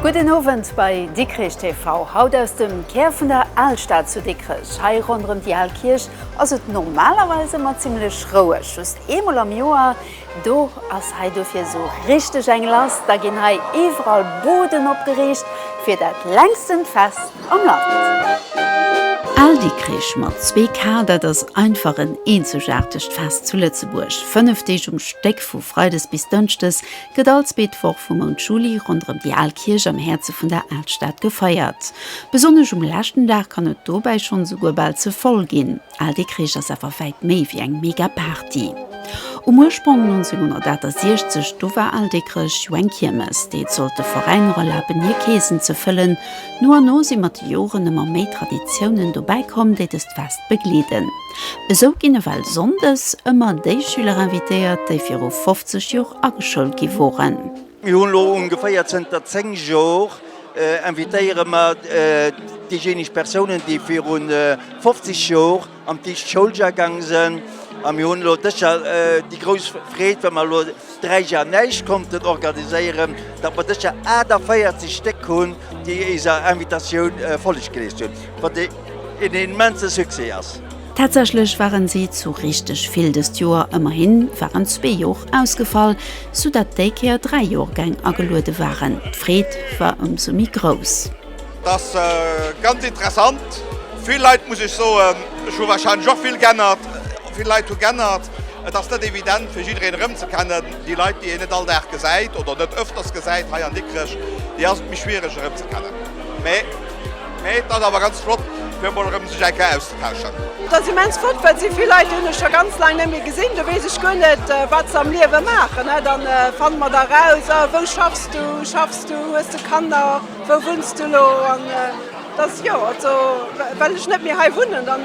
Gudden Owend bei Dikrech TV. Haut aus dem Kär vun der Alstad zu Dikrech. Hei ronderëm déi al Kierch ass et normalerweis ëmmer zimlech roueg, just eemol am Joer, do ass hei dofir esou richteg eng lass, da ginn hei iwwerall Buden opgeriicht fir dat längsten Fest am Land. Al Dikrich mat zwee K, dat ass einfach en eenzegaartegt Fest zu Lëtzebuerg. Fënnef Deeg um Stéck, vu freides bis dënschdes, gëtt all zweet Woch vum Mount Juli ronderëm déi al Kierch am Häerze vun der Alstad gefeiert. Besonnesch um leschten Dag kann et dobäi schonn esouguer bal ze voll ginn. Al de Kreesch ass awer wäit méi ewéi eng mega Party. Um Urspronk 1968, do war al de Kresch jo eng Kiermes, déi et sollt de Veräiner erlaben hir Keesen ze fëllen. No an no si mat de Joren ëmmer méi Traditiounen dobäi komm, déi dëst Fest begleeden. Esou ginn ewell sonndes ëmmer déi Schüler invitéiert, déi viru 50 Jor ageschoult gi woren. Mir hunn elo ongeféier zënter 10 Jor invitéiere mer déijéineg Persounen, déi viru 50 Jor am Tiischt Schouljar gaange sinn. A mir hunn elo dëst Jar déi grouss Freed, well mer elo 3 Jar näischt konnten organiséieren, datt mer dëst Jar 48 Stéck hunn, déi éiser Invitatioun Folleg geleescht hunn. een immense Succès ass. Tatsächlech waren si zu richteg vill dëst Joer, ëmmerhin waren zwee Joer ausgefall, sou dat déi Kéier dräi Joergäng ageluede waren. D'Freed war ëmsou méi grouss. Dat ass ganz interessant, vill Leit, muss ech soen. Ech hu warscheinlech och vill g'ännert, vill Leit hu g'ännert. Et ass net evident fir jiddereen erëmzekennen. Déi Leit, déi een net all Dag gesäit oder net ëfters gesäit hei an Dikrech, déi ass et méi schwiereg erëmzekennen. Mee et ass awer ganz flott fir emol erëm sech eng Kéier auszetauschen. Et ass immens flott, well sou vill Leit hunn ech scho ganz laang net méi gesinn. Do weess ech guer net, wat se am Liewe maachen. Dann fanne mer da raus, a wou schaffs du? Schaffs du? Hues de Kanner? Wou wunns du elo? An dass, jo, also well ech net méi hei wunnen, dann.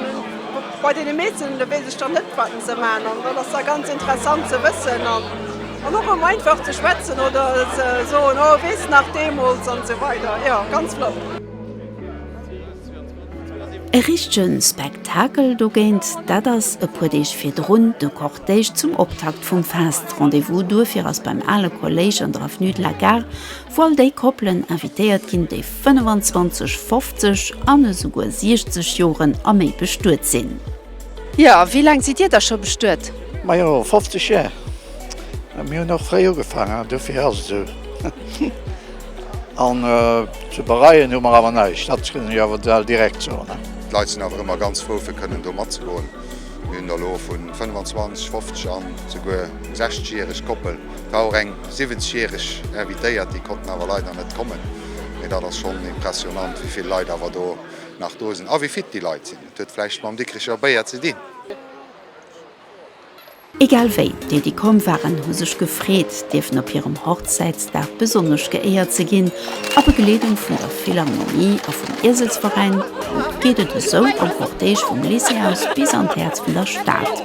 Bei deene meesten do weess ech dann net wat en sou maachen an dann ass da ganz interessant ze wëssen an och erëm einfach ze schwätzen oder ze soen, oh weess nach deemools an esou weider. Jo ganz flott. E richtege Spektakel dogéint, dat ass e puer Deeg virdrun de Cortège zum Optakt vum Fest. Rendez-vous duerfir ass beim ale Kolléisch an der Avenue de la Gare, wou all déi Koppelen invitéiert ginn, déi 25, 50 an esouguer 60 Joren a méi bestuet sinn. Jo, a wéi laang sidd Dir da scho bestuet? Majo, 50 Jar. Mir hunn och fréi ugefaangen, dofir ass et esou. An ze bereien hu mer awer näischt, dat kënnen ech awer bal direkt soen. D'Leit sinn awer ëmmer ganz frou, fir kënnen do matzegoen. Mir hunn der elo vu 25, 50 an esouguer 60 järeg Koppel, war och eng. 70 järeg Invitéiert, déi konnten awer leider net kommen, mee dat ass schonn impressionant, wéi vill Leit awer do nach do sinn a wéi fit déi Leit sinn. Et huet vläicht mam Dikricher Béier ze dinn. Egal wéi, déi, déi komm waren, hu sech gefreet, dierfen op hirem Hochzäitsdag besonnesch geéiert ze ginn. A Begleedung vun der Philharmonie a vum Ieselsveräin geet et esou am Cortège vum Lycée aus bis an d'Häerz vun der Stad.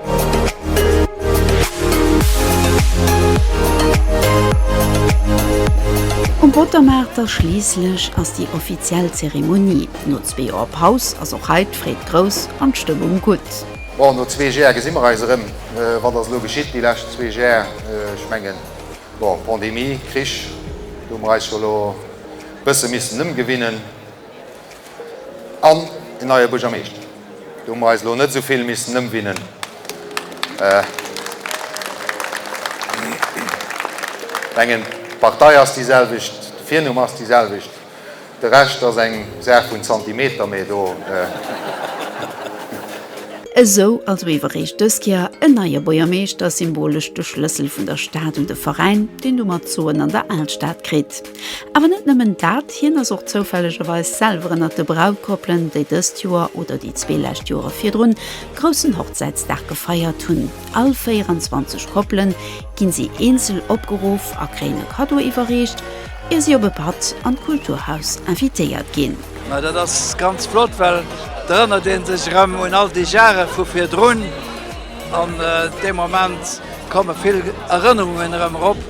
Um Pottermaart da schliisslech ass déi offiziell Zeremonie. No zwee Joer Paus ass och hei d'Freed grouss an d'Stëmmung gutt. Bon, no zwee Jär gesi mer eis erëm. Wat ass elo geschitt déi lescht zwee Jär? Ech mengen, bon, Pandemie, Krich, do hu mer eis jo elo e bësse missen ëmgewinnen. An en neie Buergermeeschter, do hu mer eis elo net esou vill missen ëmwinnen. Ech mengen, d'Partei ass déi selwecht, de Virnumm ass dee selwecht, de Rescht ass eng Saach vun Zentimeter, mee do. Esou also ewer réischt dës Kéier en neie Buergermeeschter, symbolesch de Schlëssel vun der Stad un de Veräin, deen domat soen an der Alstad kritt. Awer net nëmmen dat, hien ass och zoufällegerweis selwer ënnert de Brautkoppelen, déi dëst Joer, oder déi zwee lescht Joere virdrun, groussen Hochzäitsdag gefeiert hunn. All 24 Koppele ginn si eenzel opgeruff a kréien e Kaddo iwwerreecht, ier si op e Patt an d'Kulturhaus invitéiert ginn. Ma dat ass ganz flott, well da erënnert ee sech erëm un all déi Jare vu virdrun. An dee Moment komme vill Erënnerungen erëm erop.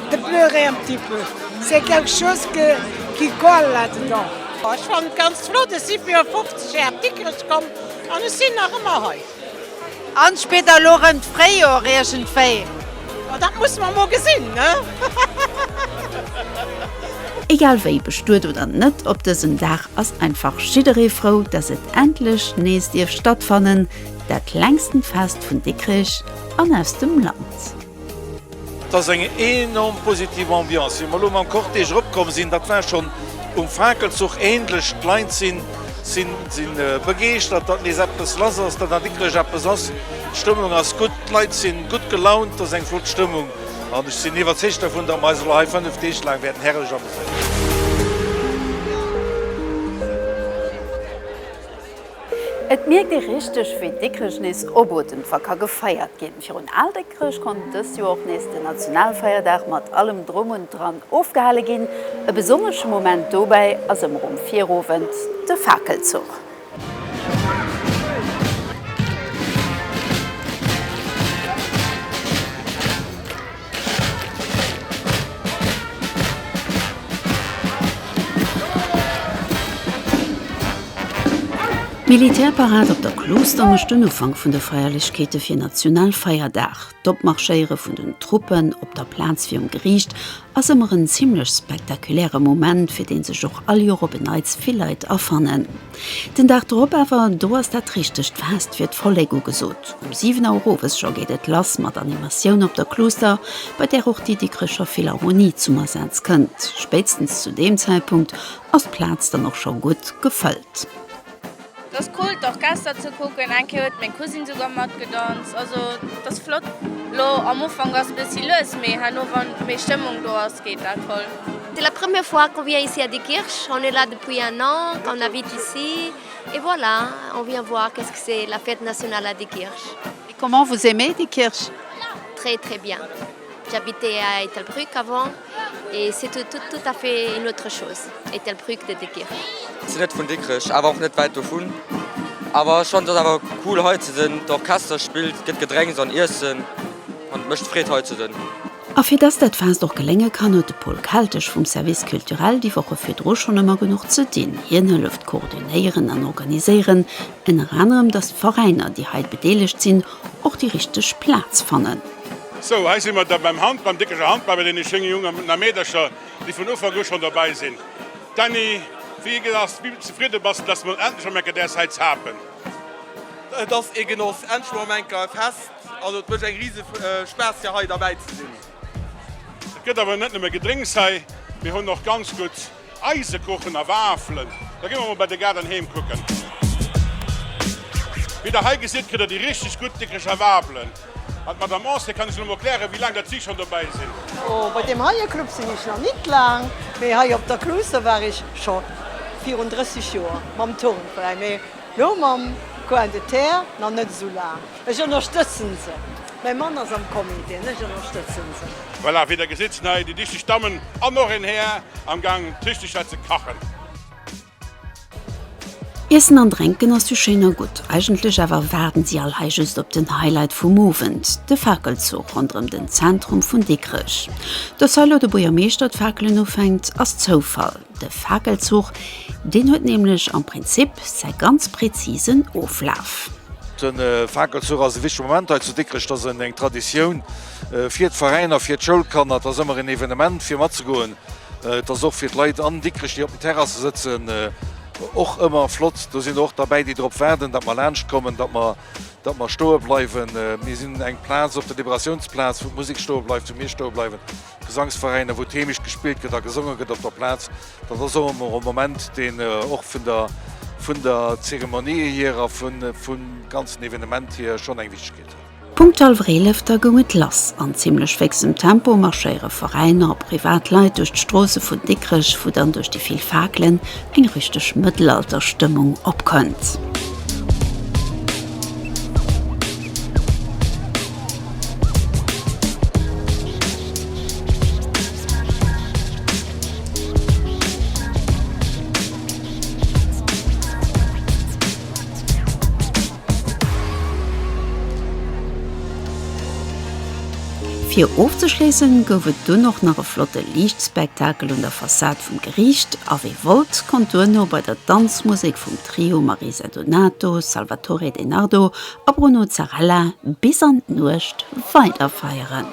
De pleure un petit peu, c'est quelque chose que qui colle là dedans. Ech fannen et ganz flott, ech si fir 50 Jhre op Dikrech komm an ech sin nach emmer hei. An spéirt der lo rem d'Fréijor iergendwéi? Dat musse mer mol gesinn, ne? Egal wéi, bestuet oder net, op dësem Dag ass einfach jidderee frou, dass et endlech nees dierf stattfannen, dat längsten Fest vun Dikrech an aus dem Land. Et ass eng enorm positiv Ambiance, wéi mer elo mam Cortège eropkomm sinn. Dat war schonn um Fakelzuch ähnlech. D'Leit sinn begeeschtert, datt nees eppes lass ass, datt dat wierklech eppes ass. D'Stëmmung ass gutt, d'Leit si gutt gelaunt, et ass eng flott Stëmmung an ech sinn iwwerzeegt dovun, datt mer eis elo hei fënnef Deeg laang wäerten herrlech ameséieren. Et mierkt ee richteg, wéi Dikrech nees obotend wa ka gefeiert ginn. Virun Al Déckrech konnt dëst Joer och nees den Nationalfeierdag mat allem Drom und Dran ofgehale ginn. E besonnesche Moment dobäi ass ëmmer um Virowend de Fakelzuch. D'Militärparad op der Klooster mécht den Ufank vun de Feierlechkeete fir Nationalfeierdag. D'Opmarschéiere vun den Truppen op der Plaz virum Geriicht ass ëmmer en zimmlech spektakuläre Moment, fir dee sech och all Joer op en Neits vill Leit afannen. Den Dag drop awer, do ass dat richtegt Fest fir d'Vollek ugesot. Um 7 Auer owes scho geet et lass mat Animatioun op der Kluuster, bei där och déi Dikrecher Philharmonie zum Asaz kënnt. Spéitstens zu deem Zäitpunkt ass d'Plaz dann och scho gutt gefëllt. Et ass cool d'Orchester ze kucken, eng Kéier huet meng Cousine souguer matgedanzt. Also et ass flott. Lo am Ufank ass e bëssi lues, mee herno wann méi Stëmmung do ass, geet dat voll. C'est la première fois qu'on vient ici à Diekirch, on est là depuis un an qu'on habite ici et voilà, on vient voir qu'est-ce que c'est la fête nationale à Diekirch. Et comment vous aimez Diekirch? Très très bien, j'habitais à Ettelbruck avant et c'est tout tout tout à fait une autre chose Ettelbruck de Diekirch. Sinn net vun Dikrech awer och net wäit dovun. Awer ech fannt et awer cool hei ze sinn. D'Orchester spillt, et gëtt Gedrénks an Iessen an et mécht Freed hei ze sinn. A fir dass dat Fest och gelénge kann, huet de Paul Keltesch vum Service Culturel déi Woche virdru schonn ëmmer genuch ze dinn. Hien hëlleft koordinéieren an organiséieren, ënner anerem, dass d'Veräiner, déi hei bedeelegt sinn, och déi richteg Plaz fannen. Sou, hei si mer da beim Hand, beim déckeger Hand, bei deene schéine Jongen an a Meedercher, déi vun Ufank u schonn dobäi sinn. Dany, wéi geet et? Ass, wéi zefridde bass de, dass de mol endlech emol enker däers hei z'hapen? Et ass ee Genoss, endlech emol emol enker e Fest. Also et mecht eng riese Spaass fir hei derbäi ze sinn. Et gëtt awer net nëmme Gedrénks hei, mir hunn och ganz gutt Eisekuchen a Wafelen. Da gi mer mol bei de Gaarden heem kucken. Wéi der hei gesitt kritt der déi richteg gutt déckeger Wafelen. An d'Madame Ancet kann iech elo mol klären, wéi laang dat si schonn dobäi sinn. Oh, bei deem heie Club sinn ech nach nit laang, mee hei op der Cluse war ech scho virun 30 Joer mam Turnveräin, mee elo mam Coin de Terre nach net esou laang. Ech ënnerstëtzen se. Mäi Mann ass am Comité an ech ënnerstëtzen se. Voilà, wéi der gesitt sinn hei déi dichteg Dammen an och een Här am Gang d'Richteg hei ze kachen. Iessen an drénken ass jo schéin a gutt, eigentlech awer waarden si all hei just op den Highlight vum Owend, de Fakelzuch ronderëm den Zentrum vun Dikrech. Dass hei lo de Buergermeeschter d'Fakelen ufänkt, ass Zoufall. De Fakelzuch, deen huet nämlech am Prinzip säi ganz präzisen Oflaf. De Fakelzuch ass e wichtege Moment hei zu Dikrech. Et ass eng Traditioun fir d'Veräiner, fir d'Schoulkanner. Et ass ëmmer een Evenement fir matzegoen. Et ass och fir d'Leit an Dikrech, déi op den Terrasse sëtzen, och ëmmer flott. Do sinn och derbäi, déi drop waarden, datt mer laanscht kommen, datt mer, datt mer stoe bleiwen. Mir sinn eng Plaz op der Liberatiounsplaz, wou d'Musek stoe bleift, wou mir stoe bleiwen. Gesangsveräiner, wou d'Heemecht gespillt gëtt a gesonge gëtt op der Plaz. Dat ass och ëmmer e Moment, deen och vun der vun der Zeremonië hier a vum ganzen Evenement hier schonn eng Wichtegkeet huet. Punkt al Wréilëfter goung et lass. An zimmlech féxem Tempo marschéiere Veräiner a privat Leit duerch d'Stroosse vun Dikrech, wou dann duerch déi vill Fakelen eng richteg Mëttelalterstëmmung opkënnt. Fir ofzeschléissen gouf et dunn och nach e flotte Liichtspektakel un der Fassad vum Geriicht a wee wollt konnt duerno bei der Danzmusek vum Trio Marisa Donato, Salvatore De Nardo a Bruno Zarella bis an d'Nuecht weiderfeieren.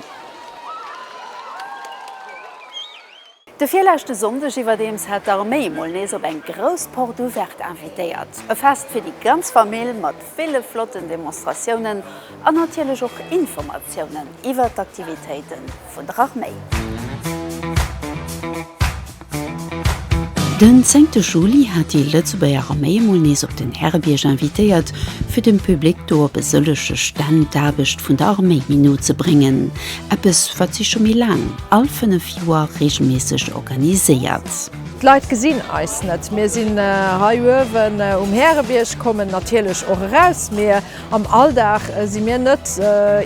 De virleschte Sonndeg iwwerdeems hat d'Arméi mol nees op eng grouss Porte Ouverte invitéiert. E Fest fir déi ganz Famill mat ville flotten Demonstratiounen an natierlech och Informatiounen iwwert d'Aktivitéiten vun der Arméi. Den zéngte Juli hat déi Lëtzebuerger Arméi emol nees op den Härebierg invitéiert, fir dem Public do op e sëllege Stänn d'Aarbecht vun der Arméi méi no ze bréngen, eppes, wat si scho méi laang, all fënnef Joer, reegelméisseg organiséiert. D'Leit gesinn eis net, mir sinn hei uewen um Härebierg, kommen natierlech och eraus, mee Am Alldag si mir net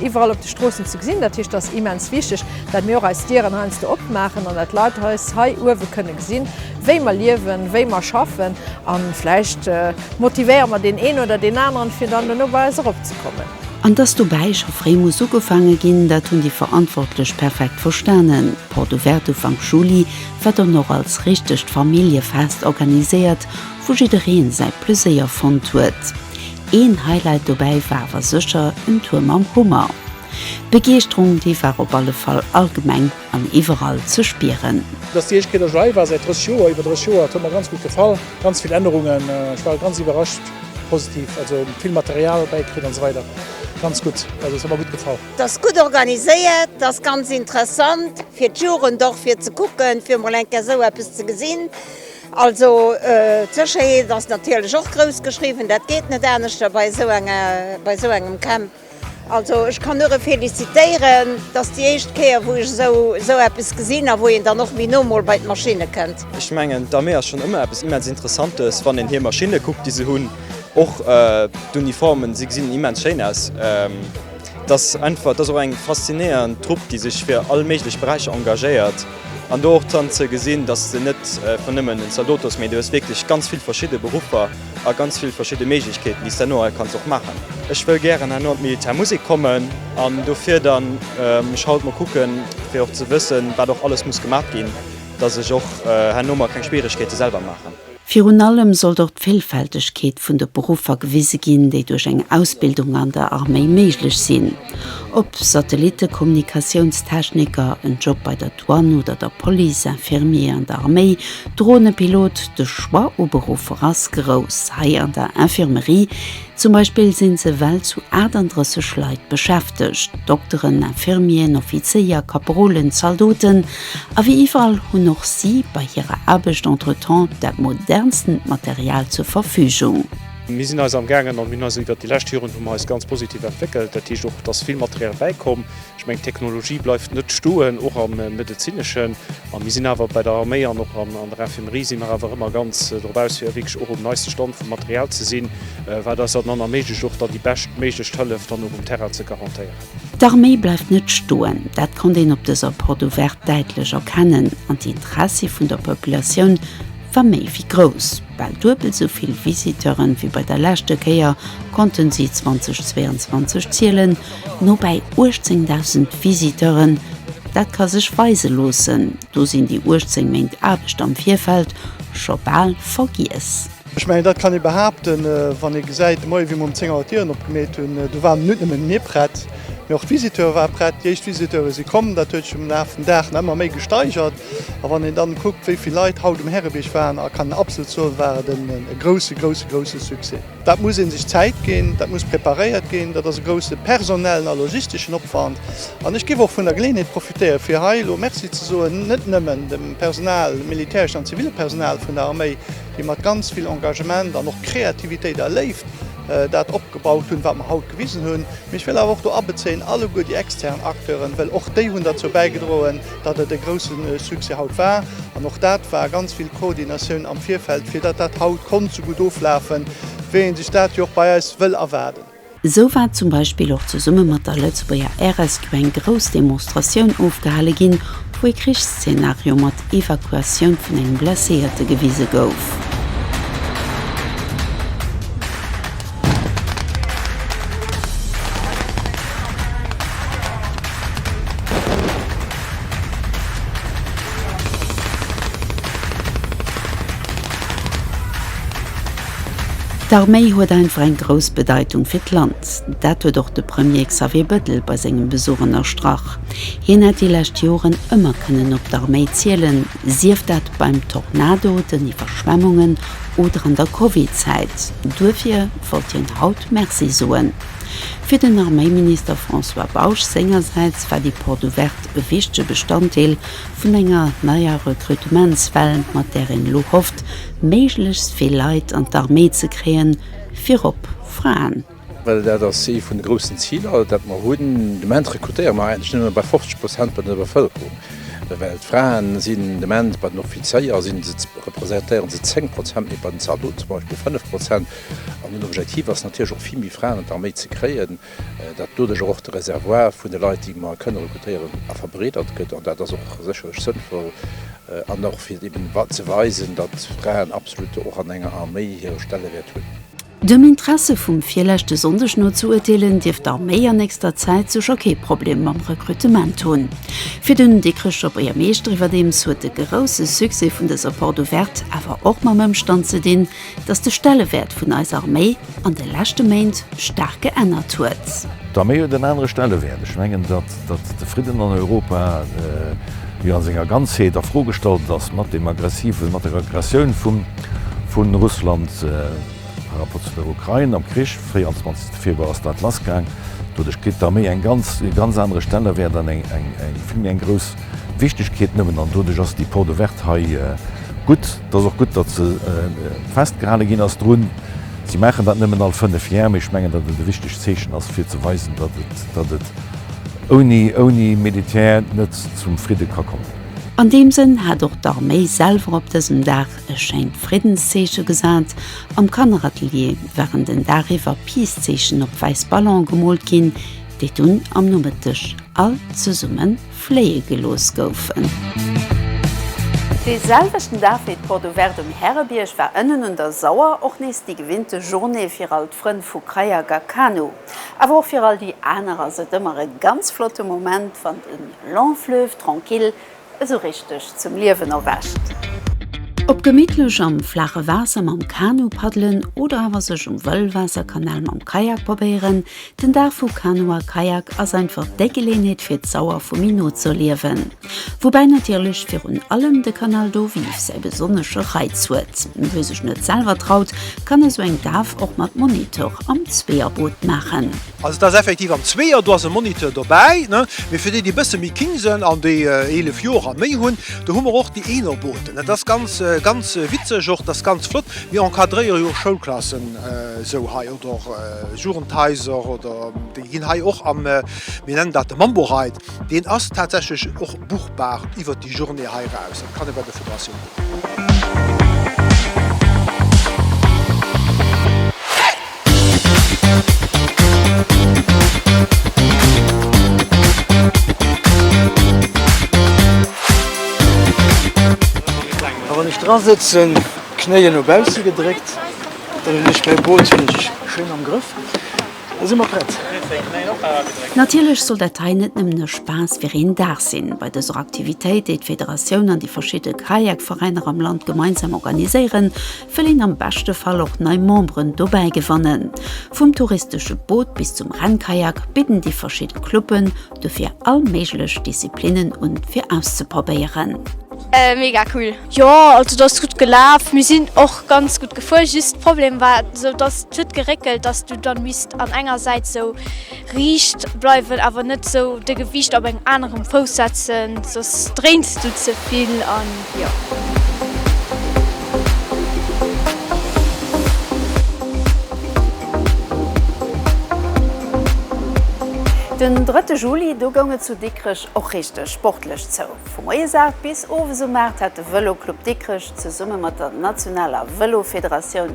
iwwerall op de Stroossen ze gesinn. Dat heescht, et ass immens wichteg, datt mir och eis Dieren heiansdo opmaachen an datt d'Leit eis hei uewe kënne gesinn, wéi mer liewen, wéi mer schaffen. A vläicht motivéiere mer deen een oder deen aneren, fir dann dono bei eis eropzekommen. An dass dobäi scho fréi muss ugefaange ginn, dat hunn déi Verantwortlech perfekt verstanen. D'Porte Ouverte Ufank Juli war dann och als richtegt Familljefest organiséiert, wou jiddereen säi Pleséier fonnt huet. Een Highlight dobäi war awer sécher en Tour mam Hummer. D'Begeeschterung déi war op alle Fall allgemeng an iwwerall ze spieren. Dass déi éischt Kéier dass ech hei war säit 30 Joer, iwwer 30 Joer, et huet mer ganz gutt gefall, ganz vill Ännerungen, ech war ganz iwwerrascht, positiv, also vill Material bäikritt an esou weider, ganz gutt, also et huet mer gutt gefall. Et ass gutt organiséiert, et ass ganz interessant fir d'Jugend och fir ze kucken, fir emol eng Kéier esou eppes ze gesinn. Also d'Sécherheet ass natierlech och grouss geschriwwen, dat geet net aneschter bei esou enger, bei esou engem Camp. Also ech kann nuere felicitéieren, et ass déi éischt Kéier wou ech esou, esou eppes gesinn a wou een dann och méi no mol bei d'Maschinne kënnt. Ech mengen d'Arméi ass schonn ëmmer eppes immens Interessantes, wann een hir Maschinne kuckt déi se hunn, och d'Uniformen, se gesinn immens schéin aus. Et ass einfach, et ass och eng faszinéierend Trupp déi sech fir all méiglech Beräicher engagéiert. An do och dran ze gesinn, dass de net vun nëmmen en Zaldotos, mee du hues wierklech ganz vill verschidde Beruffer a ganz vill verschidde Méiglechkeeten, déi s de herno hei kanns och maachen. Ech wëll gären herno an d'Militärmusek kommen an dofir dann mech haut mol kucken, fir och ze wëssen, wat och alles muss gemaach ginn, dass ech och herno mer keng Schwieregkeete selwer maachen. Virun allem sollt och d'Villfältegkeet vun de Beruffer gewise ginn, déi duerch eng Ausbildung an der Arméi méiglech sinn. Ob Satellittekommunikatiounstechniker, en Job bei der Douane oder der Police, Infirmier an der Arméi, Dronepilot, de Choix u Beruffer ass grouss. Hei an der Infirmerie Zum Beispill sinn se well zu 38 Leit beschäftegt, Dokteren, Infirmieren, Offizéier, Kaperolen, Zaldoten, a wéi iwwerall hunn och si bei hirer Aarbecht entretemps dat modernsten Material zur Verfügung. Mir sinn eis amgaangen, an mir hunn eis iwwert déi lescht Joren hu mer eis ganz positiv entwéckelt, dat heescht och et ass vill Material bäikomm, Ech mengen, d'Technologie bleift net stoen, och am Medezineschen. A mir sinn awer bei der Arméi an och an der Infirmerie si mer awer ëmmer ganz drop aus, fir wierklech och um neiste Stand vum Material ze sinn, wat eis et dann erméiglecht, och dann déi beschtméiglechst Hëllef dann och um Terrain ze garantéieren. D'Arméi bleift net stoen, dat konnt een op dëser Porte ouverte däitlech erkennen. An d'Interessi vun der Populatioun war méi wéi grouss. Bal duebel esou vill Visiteuren wéi bei der leschte Kéier konnten si 2022 zielen. Nobäi 18.000 Visiteuren, dat ka sech weise loossen, do sinn déi 18 Méint Aarbecht am Virfeld scho bal vergiess. Ech mengen, dat kann ee behaapten, wann ee gesäit, de Moie wéi mir um 10 Auer d'Dieren opgemeet hunn, do waren net nëmmen mir prett, mee och d'Visiteure ware prett, déi éischt Visiteure si komm. Dat huet sech am Laf vum Dag nach ëmmer méi gesteigert. A wann een dann kuckt, wéi vill Leit haut um Härebierg waren, a kann absolut soen, war et e grousse, grousse, grousse Succès. Dat muss ee sech Zäit ginn, dat muss preparéiert ginn, dat ass e grousse personellen a logisteschen Opwand. An ech géif och vun der Geleeënheet profitéieren, fir hei elo Merci ze soen, net nëmmen dem Personal, dem militäreschen an zivile Personal vun der Arméi, déi mat ganz vill Engagement an och Kreativitéit a Léift dat opgebaut hunn, wat mer haut gewisen hunn, mee ech wëll awer och do abezéien alleguer déi extern Acteuren, well och déi hunn derzou bäigedroen, datt et e grousse Succès haut war, an och dat war ganz vill Koordinatioun am Virfeld, fir datt dat haut konnt sou gutt oflafen, wéi ee sech dat jo och bei eis wëll erwaarden. Esou war zum Beispill och zesumme mat der Lëtzebuerger RSQ eng grouss Demonstratioun ofgehale ginn, wou ee Krichsszenario mat Evakuatioun vun engem Blesséierte gewise gouf. D'Arméi huet einfach eng grouss Bedeitung fir d'Land. Dat huet och de Premier Xavier Bettel bei sengem Besuch ënnerstrach. Hien hätt déi lescht Joren ëmmer kënnen op d'Arméi zielen, sief dat beim Tornado, den Iwwerschwemmungen oder an der Covid-Zäit. Duerfir wollt hien haut Merci soen. Fir den Arméiminister François Bausch sengersäits war déi Porte Ouverte e wichtege Bestanddeel vun enger neier Rekrutementswell, mat där een elo hofft, méiglechst vill Leit an d'Arméi ze kréien, virop Fraen. Well dat ass ee vun de groussen Ziler, dat mer hunn. De Moment rekrutéiere mer eigentlech nëmme bei 50 Prozent bei der Bevëlkerung, well d'Fraen sinn de Moment, bei den Offizéier sinn se, representéieren se 10 Prozent, mee bei den Zaldoten zum Beispill 5 Prozent. An den Objektiv ass natierlech och, vill méi Fraen an d'Arméi ze kréien, dat doduerch och de Reservoir vun de Leit, déi mer kënne rekrutéieren, verbreedert gëtt. An dat ass och sécherlech sënnvoll an och fir eben ze weisen, datt Fraen absolutt och an enger Arméi hire Stellewäert hunn. Dem Interesse vum virleschte Sonndeg no ze urteelen, dierft d'Arméi an nächster Zäit sécher kee Problem mam Rekrutement hunn. Fir den Dikrech op Éiermeeschter iwwerdeems huet de grousse Succès vun dëser Porte ouverte awer och mam Ëmstand ze dinn, datt de Stellewäert vun eiser Arméi an de leschte Méint staark geännert huet. D'Arméi huet en anere Stellewäert. Ech mengen, datt. Datt de Fridden an Europa jo a senger Ganzheet a Fro gestallt ass mat deem aggressiven, mat der Aggressioun vu Russland par rapport zu der Ukrain am Krich. 24 Februar ass dat lass gaang. Doduerch kritt d'Arméi eng ganz, e ganz anere Stellewäert an eng, eng, eng vill méi eng grouss Wichtigkeet nëmmen. An doduerch ass déi Porte ouverte hei gutt. Et ass och gutt, datt se festgehale ginn ass drun. Si maachen dat nëmmen all fënnef Jar, mee ech mengen, datt et e wichtegt Zeechen ass, fir ze weisen, datt et ouni Militär net zum Fridde ka kommen. An deem Sënn hat och d'Arméi selwer op dësem Dag e schéint Friddenszeeche gesat. Am Kanneratelier waren den Dag iwwer Peace-Zeechen op wäiss Ballone gemoolt ginn, déi dunn am Nomëtteg all zesumme fléie gelooss goufen. Dee selwechten Dag wéi d'Porte Ouverte um Härebierg war ënnen un der Sauer och nees déi gewinnte Journée fir all d'Frënn vu Kayak a Kanu. Awer och fir all déi aner ass et ëmmer e ganz flotte Moment, wann de Long Fleuve Tranquille esou richteg zum Liewen erwächt. Ob gemittlech am flaache Waasser mam Kanu paddelen oder awer sech um Wëllwaasserkanal mam Kayak probéieren, Den Dag vu Kanu a Kajak ass einfach déi Geleenheet fir d'Sauer vu méi no z'erliewen. Woubäi natierlech virun allem de Canal do Vive säi besonnesche Reiz huet. Wie sech net selwer traut, kann esou eng Daf och mat Moniteur am Zweeërboot maachen. Also et ass effektiv am Zweeër, do ass e Moniteur dobäi, mee fir déi déi e bësse méi king sënn an déi 11 Joer a méi hunn, do hu mer och déi Eenerbooten. Dat ass ganz ganz witzeg och, dat ass ganz flott. Mir encadréiere jo och Schoulklassen esou hei. Oder Jugendhaiser oder déi ginn hei och am, mir nennen dat de Mambo Ride, deen ass tatsächlech och buchbar iwwert déi Journée hei eraus. Dat kann ee bei der Federatioun kucken. Wann ech dra sëtzen, Knéien no bausse gedréckt. Natierlech soll dat hei net nëmmen e Spaass fir een Dag sinn. Bei dëser Aktivitéit, déi d'Federatioun an déi verschidde Kayak-Veräiner am Land gemeinsam organiséieren, wëll een am beschte Fall och nei Memberen dobäi gewannen. Vum touristesche Boot bis zum Rennkayak bidden déi verschidde Cluben Dofir all méiglech Disziplinnen un fir auszeprobéieren. Mega cool! Jo also dass gutt gelaaf, mir sinn och ganz gutt gefuer, just Problem war sou dass huet geréckelt dass du dann misst an enger Säit sou riicht bleiwen awer net sou de Gewiicht op engem aneren Fouss setzen soss dréins du zevill an. Den drëtte Juli, do goung et zu Dikrech och richteg sportlech zou. Vu moies 8 bis owes um 8 hat de Vëloclub Dikrech zesumme mat der nationaler Vëlofederatioun,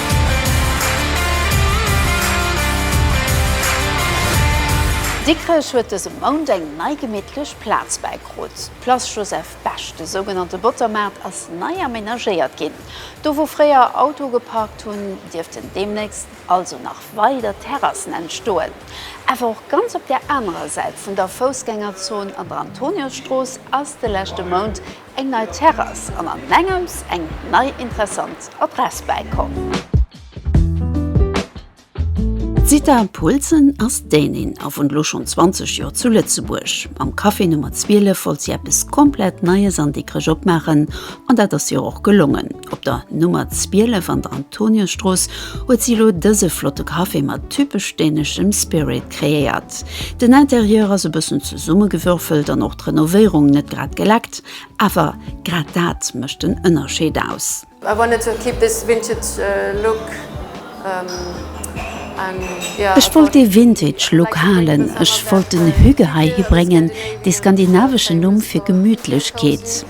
Dikrech huet dëse Mount eng nei gemittlech Plaz bäikrut. D'Place Joseph Bech, de sougenannte Bottermaart, ass nei amenagéiert ginn. Do wou fréier Auto geparkt hunn, dierften deemnächst also nach weider Terrassen entstoen. Awer och ganz op der anerer Säit vun der Foussgängerzon an der Antoniusstrooss ass de leschte Mount Eng nei Terrass an an engems eng nei interessant Adress bäikomm. D'Zita Poulsen ass Dänin a wunnt lo schonn 20 Joer zu Lëtzebuerg. Am Café Nummer 12 wollt si eppes komplett Neies an déckreg opmaachen an dat ass hir och gelongen. Op der Nummer 12 an der Antoniusstrooss huet si elo dëse flotte Café mat typesch däneschem Spirit kreéiert. Den Interieur ass e bëssen zesummegewürfelt an och d'Renovéierung net grad geleckt, awer grad dat mécht den Ënnerscheed aus. I wanted to keep this vintage look and yeah. Ech wollt dee vintage Look halen, ech wollt den Hygge hei hi bréngen, dee skandinaveschen Numm fir Gemütlechkeet.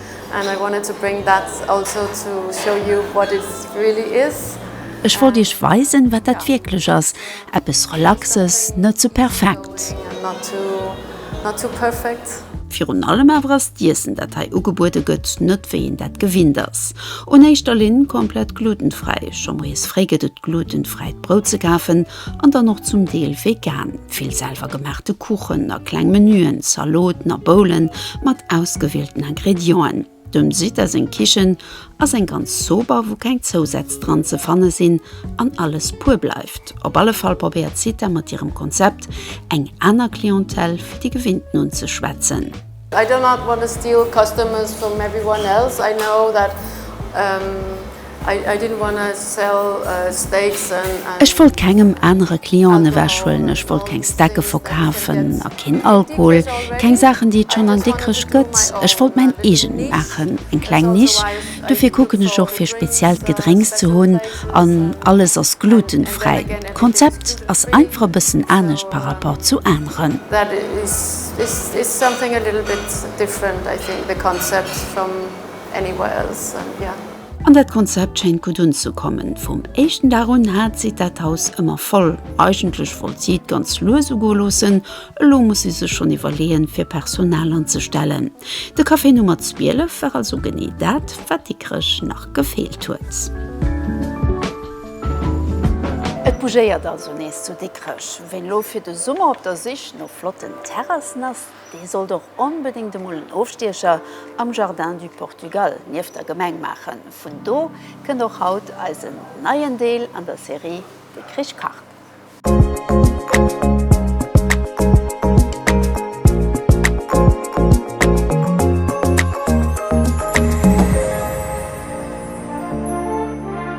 Ech wollt Iech weisen, wat dat wierklech ass, eppes Relaxes, net ze perfekt. Virun allem awer ass d'Iessen, dat hei ugebuede gëtt, net wéi een dat gewinnt ass. Un éischter Linn komplett glutenfräi. Scho moies fréi gëtt et glutenfräit Brout ze kafen. An dann och zum Deel vegan. Vill selwer gemaachte Kuchen a kleng Menuen, Zaloten a Boulen mat ausgewielten Ingredienten. Dem Zita seng Kichen ass eng ganz sober, wou keng Zousätz dran ze fanne sinn an alles puer bleift. Op alle Fall probéiert d'Zita mat hirem Konzept eng aner Clientèle wéi déi gewinnten unzeschwätzen. I do not want to steal customers from everyone else, I know that I didn't want to sell steaks and. Ech wollt kengem anere Clienten ewechhuelen, ech wollt keng Stecke verkafen a keen Alkohol, keng Saachen, déi et schonn an Dikrech gëtt. Ech wollt mäin eegent maachen, eng kleng Nisch. Dofir kucken ech och, fir speziellt Gedrénks ze hunn an alles ass glutenfräi. D'Konzept ass einfach e bëssen anescht par rapport zu aneren. This is something a little bit different I think the concept from anywhere else and yeah. An dat Konzept schéint gutt unzekommen. Vum éischten Dag un hat si dat Haus ëmmer voll. Eigentlech wollt si et ganz lues ugoe loossen, elo muss si sech schonn iwwerleeën, fir Personal anzestellen. De Café Nummer 12 war also genee dat, wat Dikrech nach gefeelt huet. Et bougéiert also nees zu Dikrech. Ween elo fir de Summer op der Sich. No flotten Terrassen ass dee sollt och onbedéngt emol en Ofstiecher am Jardin du Portugal nieft der Gemeng maachen. Vun do kënnt och haut eisen neien Deel an der Serie De Krich kacht.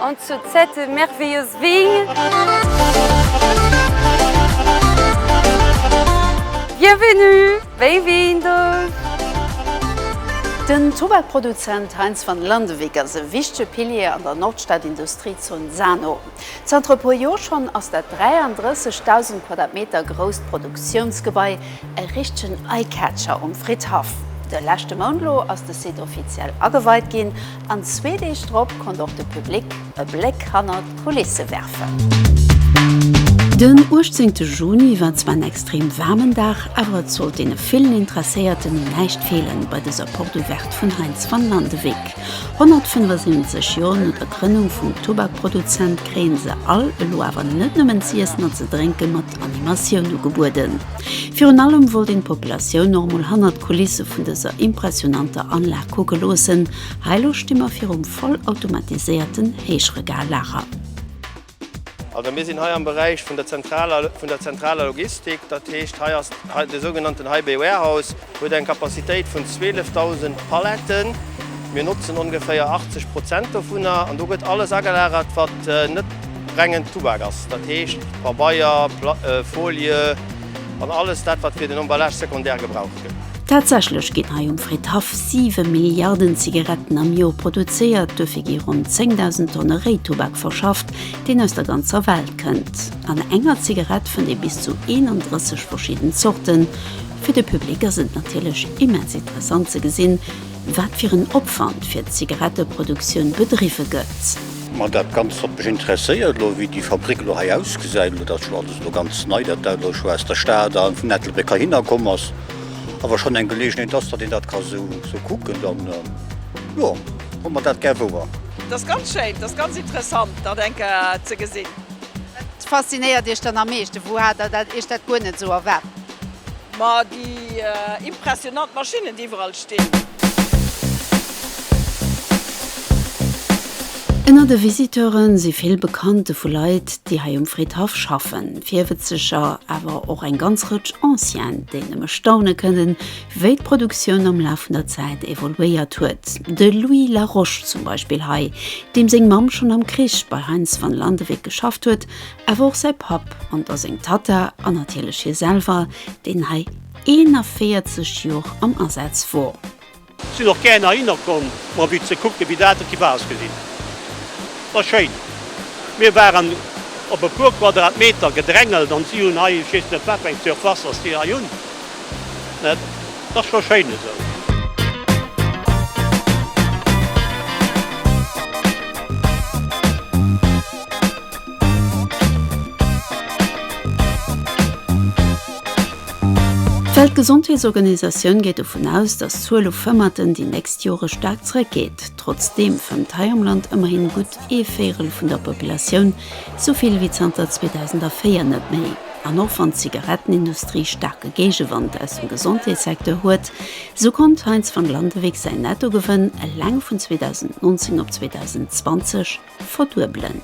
En sur cette merveilleuse vigne. Bienvenue! Bem-vindo! Den Tubakproduzent Heinz van Landewyck ass e wichtege Pilier an der Nordstad-Industriezon Sano. Zanter e puer Joer schonn ass dat 33.000 Quadratmeter grousst Produktiounsgebai e richtegen Eye-Catcher um Fridhaff. De leschte Mount lo ass de Site offiziell ageweit ginn An zwee Deeg drop konnt och de Public e Bléck hannert d'Kulisse werfen. Den 18 Juni war zwar en extrem waarmen Dag, awer et sollt deene villen Interesséierten un näischt feelen bei dëser Porte Ouverte vun Heinz van Landewyck. 175 Joer no der Grënnung vum Tubakproduzent kréien se all elo awer net nëmmen z'iessen a ze drénke mat. Animatioun ugebueden. Virun allem wollt een d'Populatioun och mol hannert d'Kulisse vun dëser impressionanter Anlag kucke loossen. Hei elo sti mer virum vollautomatiséierten Héichregallager. Also mir sinn hei am Beräich vun der zentraler Logistik, dat heescht hei ass de sougenannten High Bay Warehouse. Huet eng Capacitéit vun 12.000 Paletten. Mir notzen ongeféier 80 Prozent dovunner an do gëtt alles agelagert, wat net rengen Tubak ass, dat heescht Pabeier, Folie an alles dat, wat fir den Emballage secondaire gebraucht gëtt. Tatsächlech ginn hei um Fridhaff 7 Milliarden Zigaretten am Joer produzéiert. Duerfir gi ronn 10.000 Tonne Réitubak verschafft, deen aus der ganzer Welt kënnt. An enger Zigarett fënnt ee bis zu 31 verschidden Zorten, Fir de Public ass et natierlech immens interessant ze gesinn, wat fir en Opwand fir d'Zigaretteproduktioun bedriwwe gëtt. Ma dat Ganzt hat mech interesséiert elo, wéi déi Fabrik elo hei ausgesäit. Elo dat ass jo alles elo ganz nei, dat dat elo scho aus der Stad a vun Ettelbréck heihinner komm ass, a wa schonn eng Geleegenheet ass, datt een dat ka esou esou kucken, dann jo, holl mer dat gär wouer. Et ass ganz schéin, et ass ganz interessant, dat eng Kéier ze gesinn. Wat faszinéiert Iech dann am meeschten? Wou hat Der dat Iech dat guer net esou erwaart? Ma déi impressionant Maschinnen déi iwwerall stinn. Ënner de Visiteure si vill Bekannte vu Leit, déi hei um Fridhaff schaffen, Virwëtzeger, awer och eng ganz Rëtsch Ancienne, déi nëmme staune kënnen, wéi d'Produktioun am Laf vun der Zäit evoluéiert huet. De Louis Laroche zum Beispill hei, deem seng Mamm schonn am Krich bei Heinz van Landewyck geschafft huet, Awer och säi Papp an da seng Tatta an natierlech hie selwer, deen hei 41 Jor am Asaz wor. Sin och gären heihinner komm mer e biss ze kucken wéi dat et gebar ass gesinn. War schéin. Mir waren op e puer Quadratmeter gedrängelt an si hun hei ech weess net wat fir eng Surfaces si hei hun. Mä et ass scho schéin esou. D'Weltgesondheetsorganisatioun geet dovun aus, datt d'Zuel u Fëmmerten déi nächst Jore staark zréckgeet. Trotzdeem fëmmt hei am Land ëmmerhin gutt ee Véirel vun der Populatioun esou vill wéi zanter 2004 net méi. An och wann d'Zigarettenindustrie staarke Géigewand aus dem Gesondheetssecteur huet, esou konnt Heinz van Landewyck säin Nettogewënn eleng vun 2019 op 2020 Verduebelen.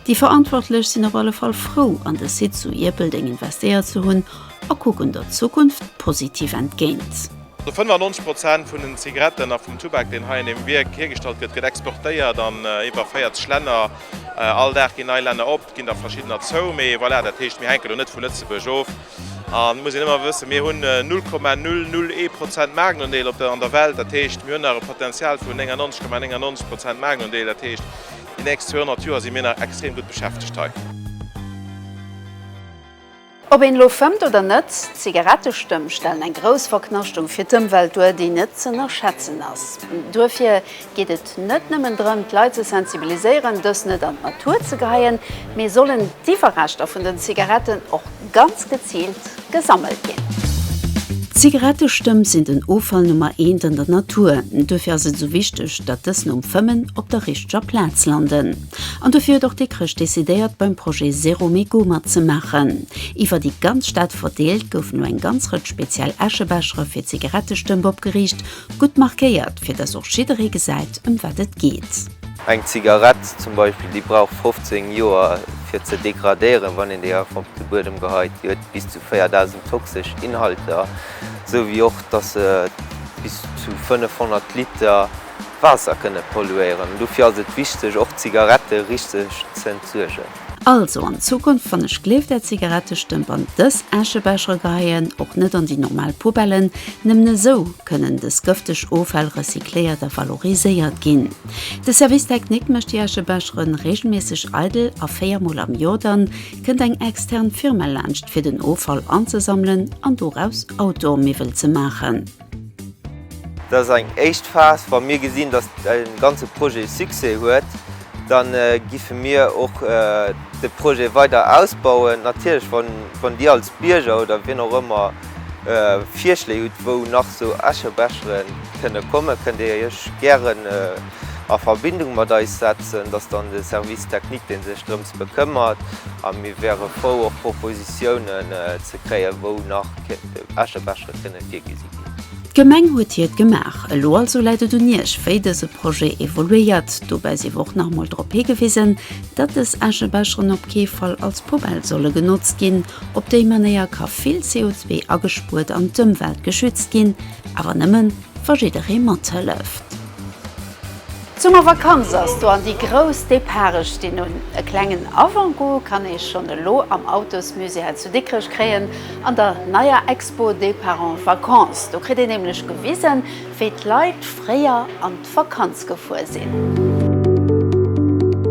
Déi Verantwortlech sinn op alle Fall frou an de Site zu Ierpeldeng investéiert ze hunn a kucken der Zukunft positiv entgéint. 95 Prozent vun den Zigaretten a vum Tubak, deen hei an deem Wierk hiergestallt gëtt, gëtt exportéiert an iwwer 40 Länner. All Dag ginn nei Länner op, et ginn der verschiddener zou. Mee voilà, dat heescht, mir hänken elo net vu Lëtzebuerg of. Et muss een ëmmer wëssen, mir hunn 0,001 Prozent Maarknondeel an der Welt. Dat heescht, mir hunn nach e Potenzial vun 99,99 Prozent Maarknondeel. Dat heescht, déi nächst 200 Joer si mir nach extrem gutt beschäftegt hei. Ob een elo fëmmt oder net, Zigarettestëmm stellen eng grouss Verknaschtung fir d'Ëmwelt duer, déi net z'ënnerschätzen ass. Duerfir geet et net nëmmen drëm, d'Leit ze sensibiliséieren, dës net an d'Natur ze geheien, mee sollen d'Iwwerreschter vun den Zigaretten och ganz geziilt gesammelt ginn. D'Zigarettestëmp sinn den Offall Nummer eent an der Natur. Duerfir ass et esou wichteg, datt dës nom Fëmmen op der richteger Plaz landen. An dofir huet och Dikrech decidéiert, beim Projet Zéro Mégot matzemaachen. Iwwer déi ganz Stad verdeelt, goufen elo eng ganz Rëtsch speziell Äschebechere fir Zigarettestëmp opgeriicht, Gutt markéiert, fir dass och jidderee gesäit, ëm wat et geet. Eng Zigarett zum Beispill, déi brauch 15 Joer, fir ze degradéieren, wann een déi einfach op de Buedem geheit. Déi huet bis zu 4.000 toxesch Inhalter, esou wéi och, dass se bis zu 500 Liter Waasser kënne polluéieren. Dofir ass et wichteg, och d'Zigarette richteg ze entsuergen. Also an Zukunft wann ech gleef der Zigarettestëmp an dës Äschebecher geheien, och net an déi normal Poubellen, nëmmen esou kënnen dës gëfteg Offäll recycléiert a valoriséiert ginn. De Service Technique mécht déi Äschebecher reegelméisseg eidel a 4 mol am Joer dann kënnt eng extern Firma laanscht fir den Offall anzesammelen an doraus Outdoor-Miwwel ze maachen. Dat ass eng éischt Phas. Wa mir gesinn, datt de ganze Projet Succès huet, da giffe mir och de Projet weider ausbauen. Natierlech, wann Dir als Bierger oder wien och ëmmer Virschléi hutt, wou nach esou Äschebeschere kënne kommen, kënnt Dir Iech gären a Verbindung mat eis setzen. Dat ass dann de Service technique, dee sech drëms bekëmmert. A mir wäre frou, och Propositiounen ze kréien, wou nach Äschebeschere kënne kommen. Dat kënn ech virgesi ginn. D'Gemeng huet hiert gemaach. Elo also läit et un Iech, wéi dëse Projet evoluéiert. Dobäi si wor och nach emol drop higewisen, datt dës Äschebecheren op kee Fall als Poubelle solle genotzt ginn. Op déi Manéier ka vill CO2 agespuert an d'Ëmwelt geschützt ginn, awer nëmmen, wa jidderee mathëlleft. D'Summervakanz ass do an déi grouss Departe stinn un. E klengen Avant-goût kann ee schonn elo am Autosmusée hei zu Dikrech kréien, an der neier Expo Départ en vacances. Do kritt een nämlech gewisen, wéi d'Leit fréier an d'Vakanz gefuer sinn.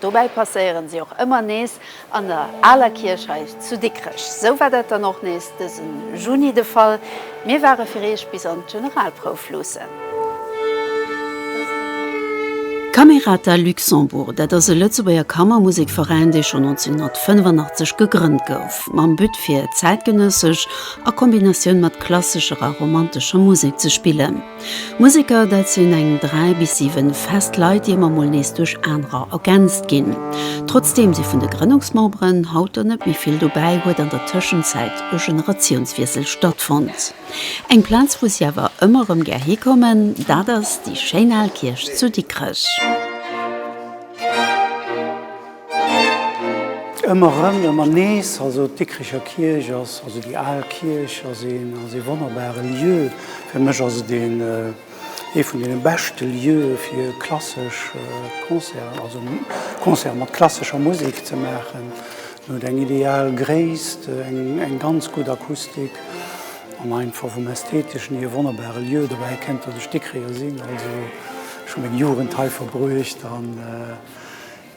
Dobäi passéieren si och ëmmer nees an der aler Kierch hei zu Dikrech. Sou war dat dann och nees dësen Juni de Fall. Mir ware fir Eech bis an d'Generalprouf luussen. Camerata Luxembourg, dat ass e Lëtzebuerger Kammermusekveräin, dee schonn 1985 gegrënnt gouf, mam But fir zäitgenëssesch a Kombinatioun mat klassescher a romantescher Musek ze spillen. Museker, dat sinn eng 3 bis 7 fest Leit, déi ëmmer mol nees duerch anerer ergänzt ginn. Trotzdeem si vun de Grënnungsmemberen haut der net méi vill dobäi, huet an der Tëschenzäit e Generatiounswiessel stattfonnt. Eng Plaz, wou si awer ëmmer erëm gär hikommen, dat ass déi schéin al Kierch zu Dikrech. Ëmmer erëm, ëmmer nees. Also d'Dikricher Kierch ass, also déi al Kierch ass een, ass ee wonnerbare Lieu. Fir mech ass et een, ee vun deene beschte Lieue fir klassesch Concerten, also Concerte mat klassescher Musek ze maachen. En huet eng ideal Gréisst, eng ganz gutt Akustik an einfach vum Ästheteschen hier e wonnerbare Lieu. Dobäi kennt, datt ech Dikricher sinn, also ech hu meng Jugend hei verbruecht an,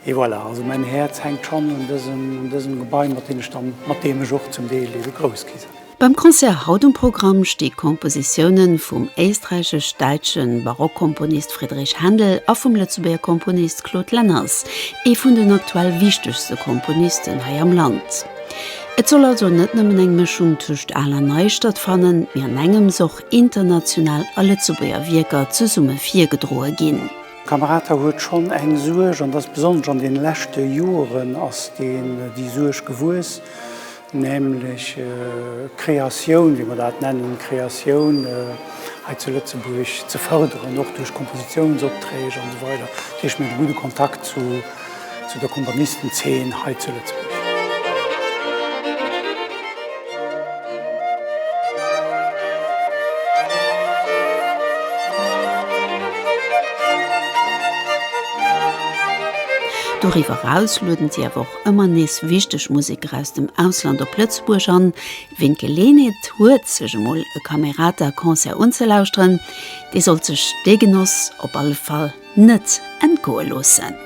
Et voilà, also mäin Häerz hänkt schonn un dësem, un dësem Gebai, mat deem ech dann, mat deem ech och zum Deel ebe grouss gi sinn. Beim Concert haut um Programm sti Kompositiounen vum éisträichesch-däitsche Barockkomponist Friedrich Händel a vum Lëtzebuerger Komponist Claude Lenners, ee vun den aktuell wichtegste Komponisten hei am Land. Et soll also net nëmmen eng Mëschung tëscht al a nei stattfannen, mee an engems och international a Lëtzebuerger Wierker zesumme virgedroe ginn. D'Kamerata huet schonn eng Suerg, an dat ass besonnesch an deene leschte Joren ass déi Suerg gewuess, nämlech d'Kreatioun, wéi mer dat nennen, d'Kreatioun hei zu Lëtzebuerg ze fërderen, och duerch Kompositiounsopträg an esou weider. Dat heescht, mir hunn e gudde Kontakt zu zu der Komponistenzeen hei zu Lëtzebuerg. Doriwwer eraus lueden si awer och ëmmer nees wichteg Museker aus dem Ausland op Lëtzebuerg an. Ween d'Geleenheet huet, sech emol e Camerata-Concert unzelauschteren, dee sollt sech dee Genoss op alle Fall net entgoe loossen.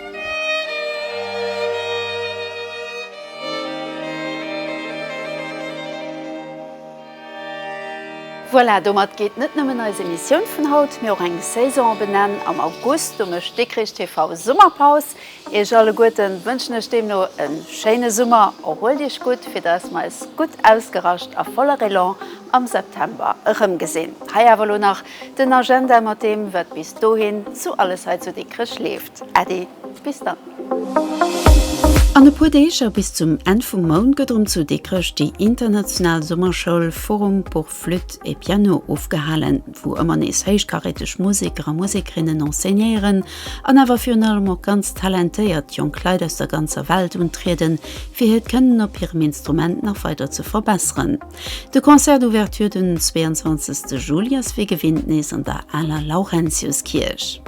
Voilà, domat geet net nëmmen eis Emissioun vun haut, mee och eng Saison op en Enn. Am August, do mécht Dikrich TV Summerpaus. Iech alleguerten wënschen ech deemno e schéine Summer. Erhuelt iech gutt, fir dass mer eis gutt ausgerascht a voller Elan am September erëmgesinn. Hei awer elo nach Den Agenda mat deem wat bis dohin zu alles hei zu Dikrech leeft. Äddi, bis dann. An e puer Deeg a bis zum Enn vum Mount gëtt erëm zu Dikrech déi international Summerschoul Forum pour Flûte et Piano ofgehalen, wou ëmmer nees héichkaräteg Museker a Musekerinnen enseignéieren an awer virun allem och ganz talentéiert jonk Leit aus der ganzer Welt untrieden, fir hiert Kënnen op hirem Instrument nach weider ze verbesseren. De Concert d'Ouverture den 22 Juli ass wéi gewinnt nees an der aler Laurentiuskierch.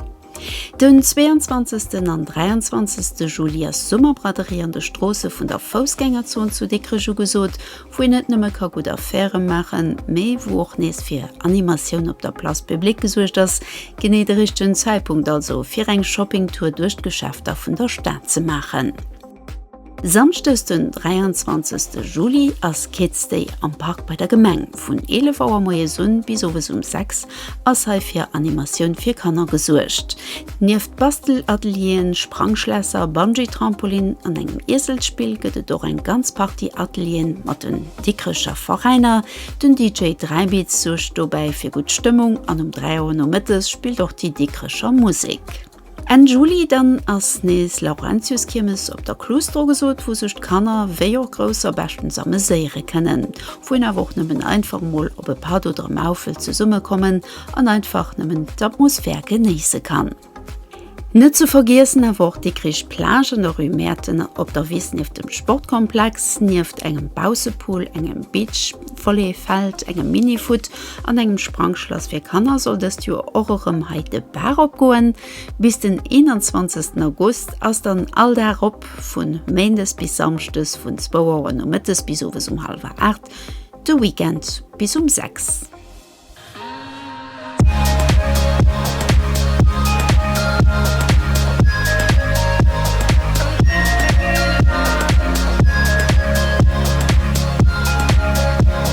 Den 22 an 23 Juli ass Summerbraderie an de Stroosse vun der Foussgängerzon zu Dikrech ugesot, wou een net nëmme ka gutt Affairë maachen, mee wou och nees fir Animatioun op der Place Publique gesuergt ass. Genee de richtegen Zäitpunkt also fir eng Shoppingtour duerch d'Geschäfter vun der Stad ze maachen. Samschdes den 23 Juli ass Kids Day am Park bei der Gemeng. Vun 11 Auer moies un bis owes um 6 ass hei fir Animatioun fir Kanner gesuergt. Nieft Bastelatelieren, Sprangschlässer, Bungee-Trampolin an engem Ieselspill gëtt et och eng ganz Partie Atelieren mat den Dikrecher Veräiner. Den DJ Dräibeats suergt dobäi fir gutt Stëmmung an um 3 Auer nomëttes spillt och déi Dikrecher Musek. Enn Juli dann ass nees Laurentiuskiermes op der Cluse ugesot, wou sech Kanner wéi och Grousser beschtens ameséiere kënnen, wou een awer och nëmmen einfach mol op e Patt oder Maufel zesummekommen an einfach nëmmen d'Atmosphär genéisse kann. Net ze vergiessen awer och d'Dikrich Plage an der Rue Mäerten op der Wiss nieft dem Sportkomplex, nieft engem Baussepool, engem Beach Volleyfeld, engem Mini-Foot An engem Sprangschlass fir Kanner soll dëst Joer och erëm hei de Bar opgoen. Bis den 21 August ass dann all Dag op, vun Méindes bis Samschdes vun 2 Auer nomëttes bis owes um hallwer 8, de Weekend bis um 6.